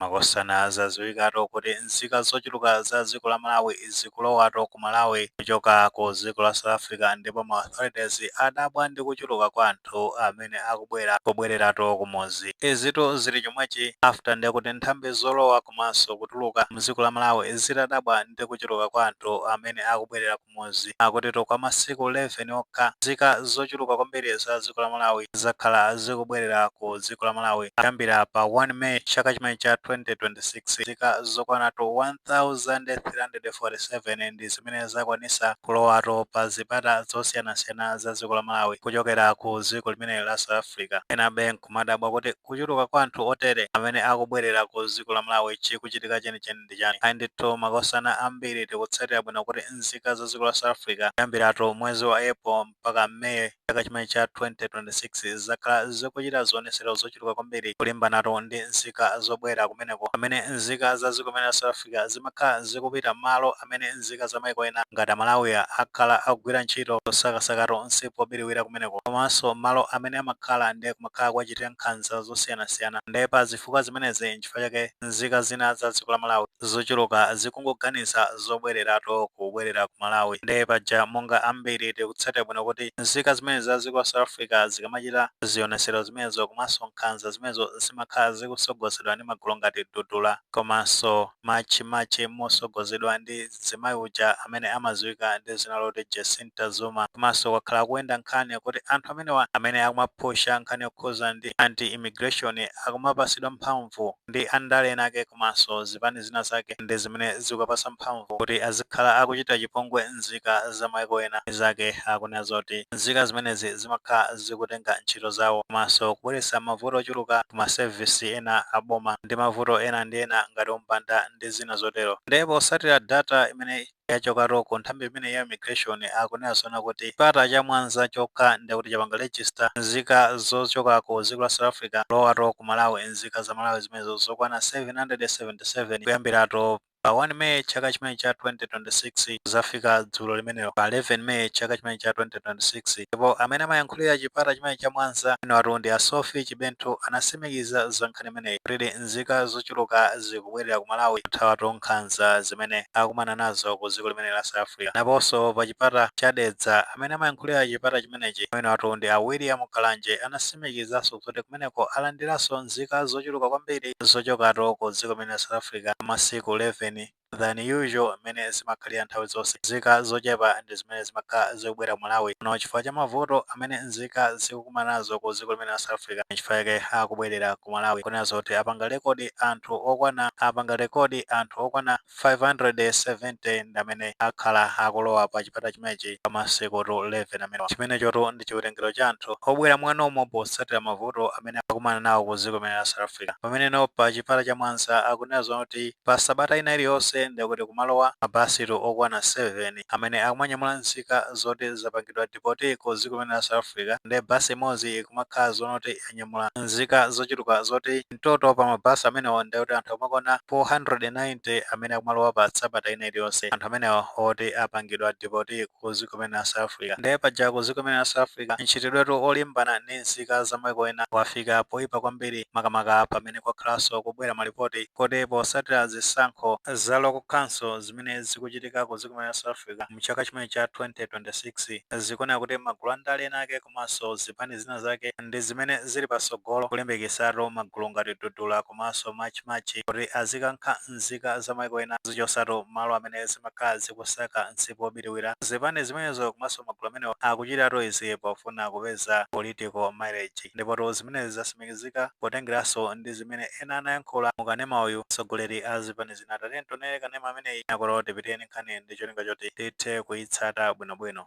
Makosana zaziwikato kuti nzika zochuluka za dziko la Malawi zikulowatu ku Malawi kuchoka ku dziko la South Africa ndipo ma authorities adabwa ndi kuchuluka kwa anthu amene akubwera kubwereratu kumudzi. Izitu zili chomwechi after ndekuti nthambi zolowa komanso kutuluka mdziko la Malawi zitadabwa ndi kuchuluka kwa anthu amene akubwelera ku. mudzi, akutitu kwa masiku 11 okha, nzika zochuluka kwambiri za dziko la Malawi zakhala zikubwerera ku dziko la Malawi kuyambira pa 1 May chaka chimenechi cha 2026. Nzika zokwanatu 1,347 ndi zimene zakwanitsa kulowatu pa zipata zosiyanasiyana za dziko la Malawi kuchokera ku dziko limeneli la South Africa. Enabe nkumadabwa kuti kuchuluka kwa anthu otere amene akubwerera ku dziko la Malawi chikuchitika chenicheni ndi. ndi chani? Ayi ndithu makosana ambiri tikutsatira bwino kuti nzika za dziko la South Africa kuyambiratu mwezi wa April mpaka May chaka chimenechi cha 2026 zakhala zikuchita zionetsero zochuluka kwambiri kulimbanatu ndi nzika zobwera kumeneko pamene nzika za dziko limeneli la South Africa zimakhala zikupita malo amene nzika za maiko ena ngati aMalawi akhala akugwira ntchito osakasakatu msipu wobiriwira kumeneko komanso malo amene amakhala ndiye kumakhala kuwachitira nkhanza zosiyanasiyana ndiye pazifukwa zimenezi chifukwa chake nzika zina za dziko la Malawi zochuluka zikungoganiza zobwereratu kubwerera ku Malawi nde paja monga ambiri tikutsatira bwino kuti nzika zimenezi za dziko la South Africa zikamachita zionesero zimenezo komanso nkhanza zimenezo zimakhala zikutsogozedwa ndi magulu ngati Dudula komanso March and March motsogozedwa ndi mzimayi uja amene amadziwika ndi dzina loti Jacin ta Zuma. Komanso kwakhala kukuyenda nkhani yakuti anthu amenewa amene akumapusha nkhani yokhuza ndi anti immigration akumapasidwa mphamvu ndi andale ena ake komanso zipani zina zake ndi zimene zikuwapasa mphamvu kuti azikhala akuchitira chipongwe nzika za maiko ena. Nzikazi zikunena zoti nzika zimenezi zimakhala zikutenga ntchito zawo komanso kubweretsa mavuto ochuluka ku ma service ena a boma ndi mavuto ena ndi ena ngati umbanda ndi zina zotero. Nde posatira data imene yachokatu ku nthambi imeneyi ya immigration akunena zoona kuti chipata cha Mwanza chokha ndiye kuti chapanga register nzika zochoka ku dziko la South Africa kulowatu ku Malawi nzika za Malawi zimenezo zokwana 777 kuyambiratu pa 1 May chaka chimenechi cha 2026 kuzafika dzulo limenelo pa 11 May chaka chimenechi cha 2026 ndipo amene amayankhulira chipata chimenechi cha Mwanza amenewatu ndi a Sophie Chibenthu anasimikiza za nkhani imeneyi kuti nzika zochuluka zikubwelera ku Malawi kuthawatu nkhanza zimene akumana nazo ku dziko limeneli la South Africa. Naponso pa chipata cha Dedza, amene amayankhulira chipata chimenechi amenewatu ndi a William Kalanje anasimikizanso zoti kumeneko alandiranso nzika zochuluka kwambiri zochokatu ku dziko limeneli la South Africa masiku 11 than usual mmene zimakhalira nthawi zonse. Nzika zochepa ndi zimene zimakhala zikubwera Malawi muno chifukwa cha mavuto amene nzika zikukumana nazo ku dziko limene la South Africa nchifukwa chake akubwerera ku Malawi akunena zoona kuti apanga record anthu okwana apanga record anthu okwana 570 ndi amene akhala akulowa pa chipata chimenechi pa masikutu 11 amenewa. Chimenechotu ndi chiwerengero cha anthu obwera mwanomo potsatira mavuto amene akukumana nawo ku dziko limene la South Africa pameneno pa chipata cha Mwanza akunena zoona kuti pa sabata ina iliyonse ndiye kuti kumalowa mabasitu okwana 7 amene akumanyamula nzika zoti zapangidwa deport ku dziko limene la South Africa ndiye bus imodzi ikumakhala zoona kuti yanyamula nzika zochuluka zoti in total pa mabasi amenewa ndiye kuti anthu akumakwana 490 amene akumalowa pa sabata ina iliyonse anthu amenewa oti apangidwa deport ku ku ziko mene la South Africa nde paja ku ziko mene la South Africa mchitidwetu olimbana ndi nzika za maiko ena wafika poipa kwambiri makamaka pamene kwakhalanso kubwera malipoti kuti posatira zisankho za local council zimene zikuchitika ku ziko mene la South Africa mchaka chimene cha 2026 zikuoneka kuti magulu a ndale ena ake komanso zipani zina zake ndi zimene zili pasogolo kulimbikisatu magulu ngati dudula komanso march march kuti azikankha nzika za maiko ena zichosatu mmalo amene zimakhala zikusaka msipu wobiriwira zipani zimenezo komanso magulu amenewa akuchitatu izi pofuna kupeza political mileage ndipotu zimenezi zasimikizika potengeranso ndi zimene ena anayankhula mu kanema uyu atsogoleri a zipani zina tatiyeni tionere kanema ameneyi kenakono tipitire ndi nkhani ndi cholinga choti tithe kuitsata bwinobwino.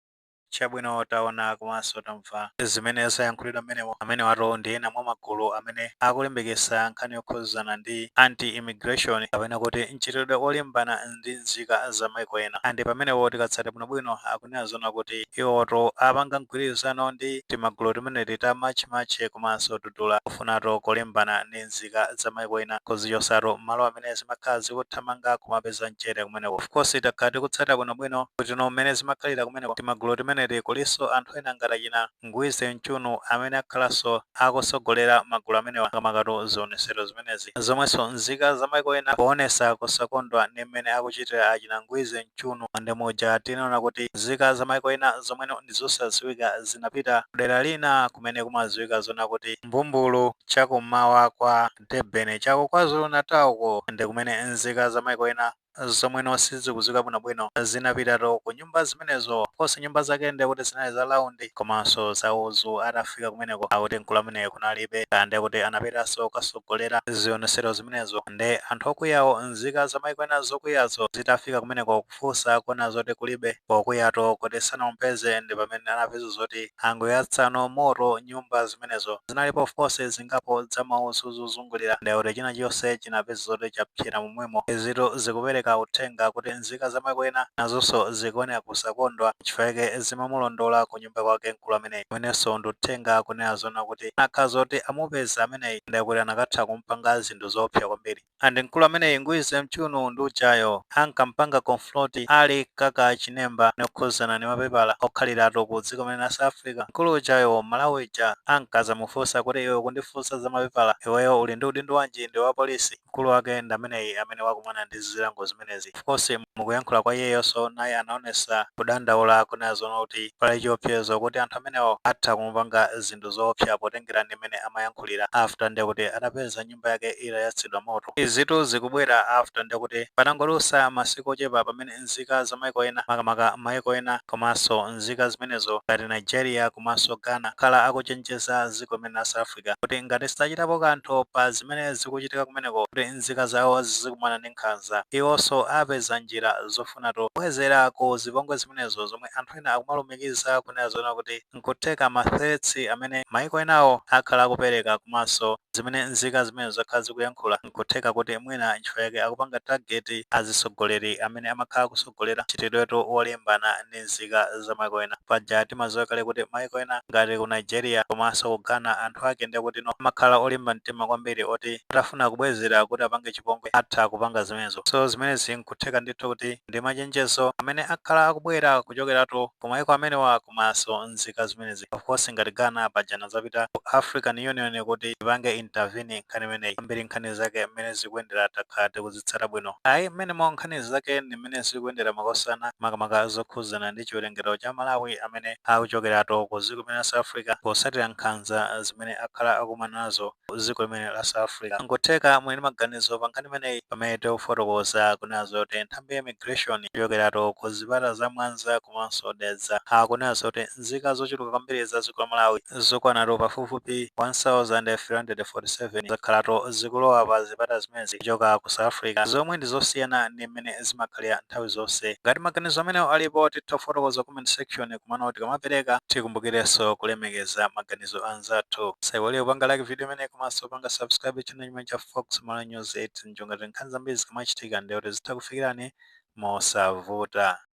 Chabwino, taona komanso tamva zimene zayankhulidwa mmenemo. Amenewatu ndi ena mwa magulu amene akulimbikitsa nkhani yokhuzana ndi anti-immigration kapena kuti mchitidwe olimbana ndi nzika za maiko ena and pamenepo tikatsata bwinobwino akunena zoona kuti iwowotu apanga mgwirizano ndi timagulu timeneti ta March March komanso Dudula kufunatu kulimbana ndi ndi nzika za maiko ena kuzichosatu mmalo amene zimakhala zikuthamanga kumapeza mchere kumeneko of course takhala tikutsatira bwino bwino kutino mmene zimakhalira kumeneko timagulu timeneti kulinso anthu ena ngati achina ngwize mchunu amene akhalanso akusogolera magulu amenewa makamakatu zionesero zimenezi zomwenso nzika za maiko ena powonesa kusakondwa ndi mmene akuchitira achina ngwize mchunu and muja tinaona kuti nzika za maiko ena zomweno ndizosaziwika zinapita kudera lina kumene kumaziwika zoona kuti mbumbulu chakummawa kwa Durban, cha ku KwaZulu-Natal, uko ndi kumene nzika za maiko ena zomweno sizikudziwika bwinobwino zinapitatu, ku nyumba zimenezo. Of course, nyumba zake ndiye kuti zinali za round komanso za udzu. Atafika kumeneko, akuti mkulu ameneyu kunalibe, kaya ndiye kuti anapitanso kukatsogolera zionetsero zimenezo. Ndiye anthu okwiyawo, nzika za maiko ena zokwiyazo zitafika kumeneko, kufunsa akuona zoti kulibe pokuyatu kuti sanampeze ndipamene anapeza zoti angoyatsano moto nyumba zimenezo zinalipo of course zingapo za mauzu zozungulira ndekuti china chonse chinapeza zoti chapsera momwemo izitu zikupereka uthenga kuti nzika zamaiko ena nazonso zikuoneka kusakondwa nchifukwa chake zimamulondola kunyumba kwake nkulu ameneyi umenenso ndi uthenga kunena zona kuti anakakhala zoti amupeza ameneyi ndekuti anakatha kumpanga zinthu zoopsa kwambiri. and mkulu ameneyi ngwize mchunu ndi ujayo ankampanga confront Ali Kaka Chinemba zokhuzana ndi mapepala okhaliratu ku dziko limene la South Africa. Mkulu ujayo Mmalawi uja ankazamufunsa kuti iwe ukundifunsa za mapepala iweyo uli ndi udindo wanji ndiwe wa police? Mkulu wake ndi ameneyi amene wakumana ndi zilango zimenezi. Of course mukuyankhula kwa iyeyonso naye anaonesa kudandaula kunena zoona kuti pali chiopsezo kuti anthu amenewo atha kumupanga zinthu zoopsa potengera ndi mmene amayankhulira after ndekuti atapeza nyumba yake itayatsidwa moto. Izitu zikubwera after nde kuti patangodutsa masiku ochepa pamene nzika za maiko ena makamaka maiko ena komanso nzika zimenezo ngati Nigeria komanso Ghana akhala akuchenjeza ziko limene la South Africa kuti ngati sachitapo kanthu pa zimene zikuchitika kumeneko kuti nzika zawo zikukumana ndi nkhanza iwonso apeza njira zofunatu kubwezera ku zipongwe zimenezo zomwe anthu ena akumalumikiza kunena zoona kuti nkutheka ma threats amene maiko enawo akhala akupereka komanso zimene nzika zimenezo zakhala zikuyankhula nkutheka kuti mwina nchifukwa chake akupanga target azitsogoleri amene amakhala akutsogolera mchitidwetu wolimbana ndi nzika za maiko ena. Paja timadziwa kale kuti maiko ena ngati ku Nigeria komanso ku Ghana anthu ake ndekuti no amakhala olimba mtima kwambiri oti atafuna kubwezera kuti apange chipongwe atha kupanga zimenezo. So zimenezi nkutheka ndithu kuti. ndi machenjezo amene akhala akubwera kuchokeratu ku maiko amenewa komanso nzika zimenezi of course ngati Ghana paja anazapita ku African Union kuti ipange intervene nkhani imeneyi kwambiri nkhani zake mmene zikuyendera takhala tikuzitsata bwino ayi mmenemo nkhani zake ndi mmene zikuyendera makosana makamaka zokhudzana ndi chiwerengero cha Amalawi amene akuchokeratu ku ziko limene la South Africa potsatira nkhanza zimene akhala akumana nazo dziko limene la South Africa. Nkutheka muli ndi maganizo pa nkhani imeneyi pamene tikufotokoza kunena zoti nthambi ya immigration kuchokeratu ku zipata za Mwanza komanso Dedza akunena zoti nzika zochuluka kwambiri za dziko la Malawi zokwanatu pafupifupi 1,347 zakhalatu zikulowa pa zipata zimenezi kuchoka ku South Africa zomwe ndi zosiyana ndi mmene zimakhalira nthawi zonse. Ngati maganizo amenewo alipo titha kufotokoza comment section. Komano tikamapereka, tikumbukirenso kulemekeza maganizo a anzathu. Musaiwale kupanga like video imeneyi komanso kupanga subscribe channel chimene cha Fox Malawi News n'cholinga choti nkhani zambiri zikamachitika ndiye kuti zitha kukufikirani mosavuta.